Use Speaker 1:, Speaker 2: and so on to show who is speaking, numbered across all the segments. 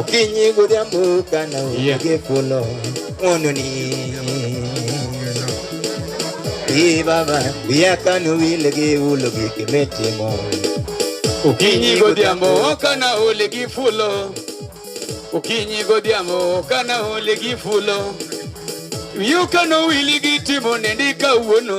Speaker 1: Okinyi godhiambo kana onge folo ng'wononi. Ee Baba, wiya kano wil gi ulo gik mitimo. Okinyi godhiambo kana ol gi fulo Okinyi godhiambo kana ol gi fulo Wiyo kano wili gi timo nendi kawuono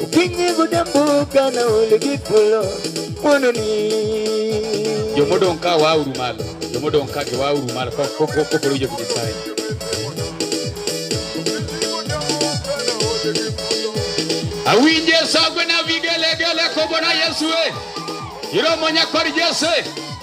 Speaker 1: Ukinyigo dambuka na uligipulo mondo ni jomodong' ka wauru malo jomodong' ka gi wauru malo koporo jo Nyasaye awinje sagwe na vigelegele kobona Yesu e iromo nyakor Yesu e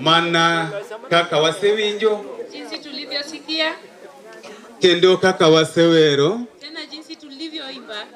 Speaker 1: mana kaka wasewinjo jinsi tulivyosikia kendo kaka wasewero tena jinsi tulivyoimba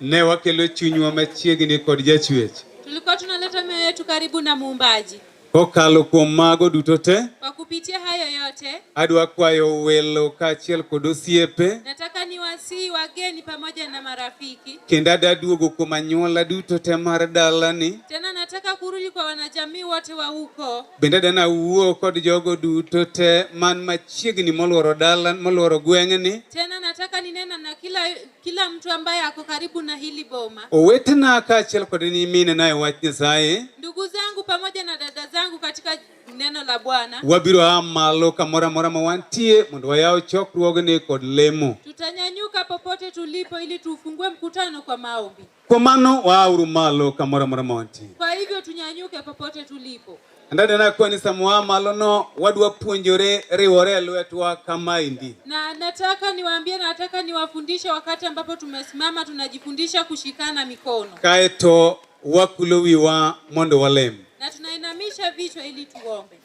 Speaker 1: ne wakelo chunywa machiegni kod jachwech tulikuwa tunaleta mioyo yetu karibu na muumbaji kokalo kuom mago duto te kwa kupitia hayo yote adwa kwayo welo kaachiel kod osiepe nataka niwasihi wageni pamoja na marafiki kendo adaduogo kuom anyuola duto te mar dalani Tena nataka kurudi kwa wanajamii wote wa huko. Bende dana wuo kod jogo duto te man machiegni molworo dala molworo gweng'ni. Tena nataka ninena na kila, kila mtu ambaye ako karibu na hili boma. Owetena kaachiel kod nyimine naye wach Nyasaye. Ndugu zangu pamoja na dada zangu katika neno la Bwana. Wabiro a malo kamoro amora ma wantie mondo wayaw chokruogni kod lemo. Tutanyanyuka popote tulipo ili tufungue mkutano kwa maombi. Kwa mano waauru malo kamoro amora ma wantie. Kwa hivyo tunyanyuke popote tulipo. Ndani na kwa ni samwa malo no wadwa puonjore riwore lwetwa kama indi. Na nataka niwaambie na nataka niwafundishe wakati ambapo tumesimama tunajifundisha kushikana mikono. Kaeto wakulo wiwa mondo walem. Na tunainamisha vichwa ili tuombe.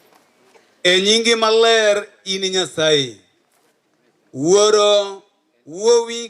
Speaker 1: E nyingi maler ini Nyasaye. Wuoro wuowi